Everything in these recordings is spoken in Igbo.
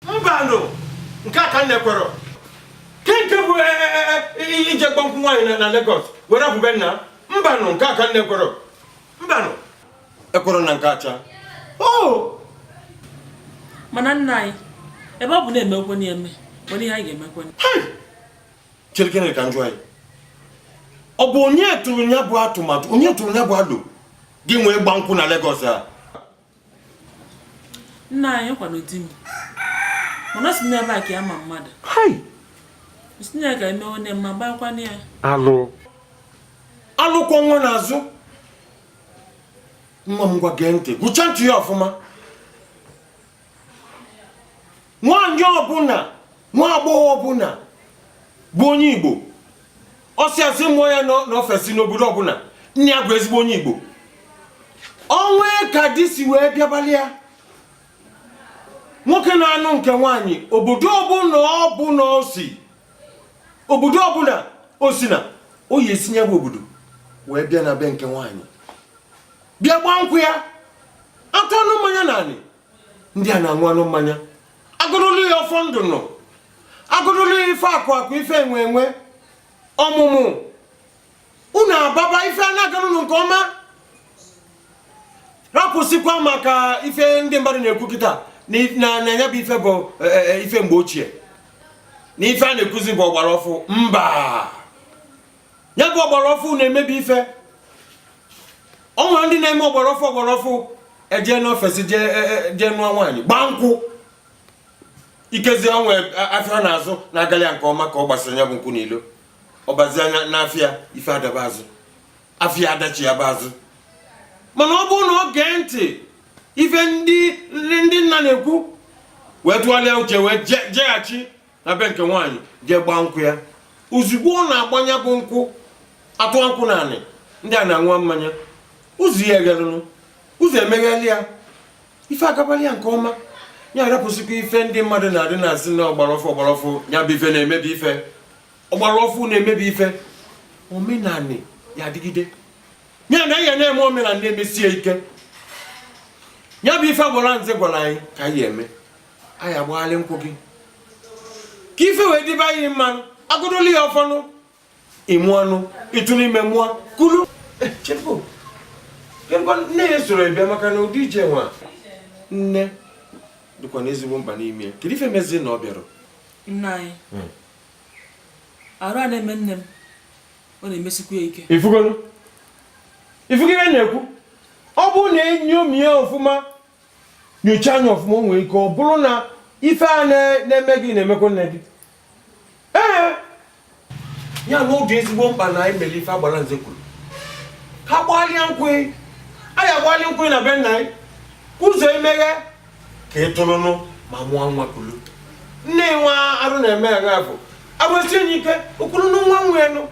mbanụ nke a ka m na-ekwerọ kee nke bụ e, e, e, ije gbaa nkwụ nwaanyị na Lagos were abụ be nna mbanụ nke a ka m na-ekwerọ mbanụ ekwerọ m na nke a cha o mana nna anyị ebe ọ bụ na emegokwa ya eme o nwere ihe anyị ga-emekwa cherekene ka m jụọ gị ọ bụ onye tụrụ ya bụ atụmatụ onye tụrụ ya bụ alo e ji wee gbaa nkwụ na Lagos a nna anyị ọ kwanụ di m mana si n'ebe a ka ya ma mmadụ si na ya ga eme onye mma gbakwana ya alụ alụ kwọ nwa n'azụ nwa m ngwa gee ntị gụcha ntị ya ọfụma nwaanyị ọbụla nwa agbọghọ ọbụla bụ onye igbo a sịa sị mụọ ya n'ofesi n'obodo ọbụla nne ya bụ ezigbo onye igbo o nwee ka di si wee bịabalị ya nwoke na-anụ nke nwaanyị obodo ọbụla ọbụla o si obodo ọbụla o si na ọ ya-esi na ya bụ obodo wee bịa na be nke nwaanyị bịa gbaa nkwụ ya atụọnụ mmanya n'anị ndị anị aṅụọnụ mmanya agọdoli ya ọfọ ndụ nụ agọdoli ya ife akụ akụ ife enwe enwe ọmụmụ unu ababa ife a na-agara unu nke ọma rapụsịkwa maka ife ndị mmadụ na-ekwu kịta na ya bụ ife bụ e, e, e, ife mgbe ochie na ife a na-ekwuzi bụ ọgbara ọfụ mba ya bụ ọgbara ọfụ na-emebi ife o nwere ndị na-eme ọgbara ọfụ ọgbara ọfụ ejee n'ofesi e, e, jee nụọ nwaanyị gbaa nkwụ ikezi o nwee afịa ọ na-azụ na-agalị ya nke ọma ka ọ gbasịa ya bụ nkwụ n'ilo ọ bazie ya n'afịa ife adaba azụ afịa adachighaba azụ mana ọ bụrụ na o gee ntị ife ndị nna na-ekwu wee tụgharịa uche wee jeghachi na be nke nwaanyị jee gbaa nkwụ ya ozugbo ọ na-agba ya bụ nkwụ atụọ nkwụ n'anị ndị anị aṅụọ mmanya ụzọ ya eghelụnụ ụzọ emegheli ya ife agabalị ya nke ọma ya arapụsịkwa ife ndị mmadụ na-adị na-asị na ọgbara ọfụ ọgbara ọfụ ya bụ ife na-emebi ife ọgbara ọfụ na-emebi ife omenanị ya adịgide ya na ya na-eme omenala emesie ike ya bụ ife gwara nze gwara anyị ka anyị eme anyị ya-agbaghalị nkwụ gị ka ife wee dịba gị mma nụ agọdoli gị ọfọ nụ ị mụọ nụ ị tụ nụ ime mụọ kulu eh, nne gị esorọ bịa maka na ụdị ije ọnwa nne dịkwanụ ezigbo mkpa n'ime ya kedu ife mezi na ọ bịarọ nna anyị hmm. ọrịa na-eme nne m ọ na-emesikwa ya ike ị fụgo ị fụgo ihe m na-ekwu ọ bụrụ na enyomie ya ọfụma nyocha anya ọfụma o nwere ike ọ bụrụ na ife a na-eme gị na-emekwa nne gị ee ya na ọ dị ezigbo mkpa na anyị mere ife agbara nze kwuru ka a gbalịa nkwụ anyị agbalị nkwụ na be nna anyị ụzọ emeghe ka ị tụrụnụ ma mụọ nwa kulu nne nwa arụ na-eme ya bụ agbasie anyị ike o kwuru na nwa nwa enu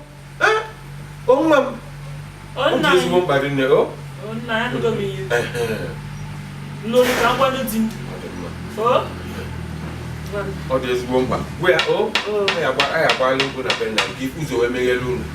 onwa m ọ dị ezigbo mkpa rinne o ọ dị ezigbo mkpa gwa ya o anyị agbalị nkwụ na be nna gị ụzọ wee meghele unu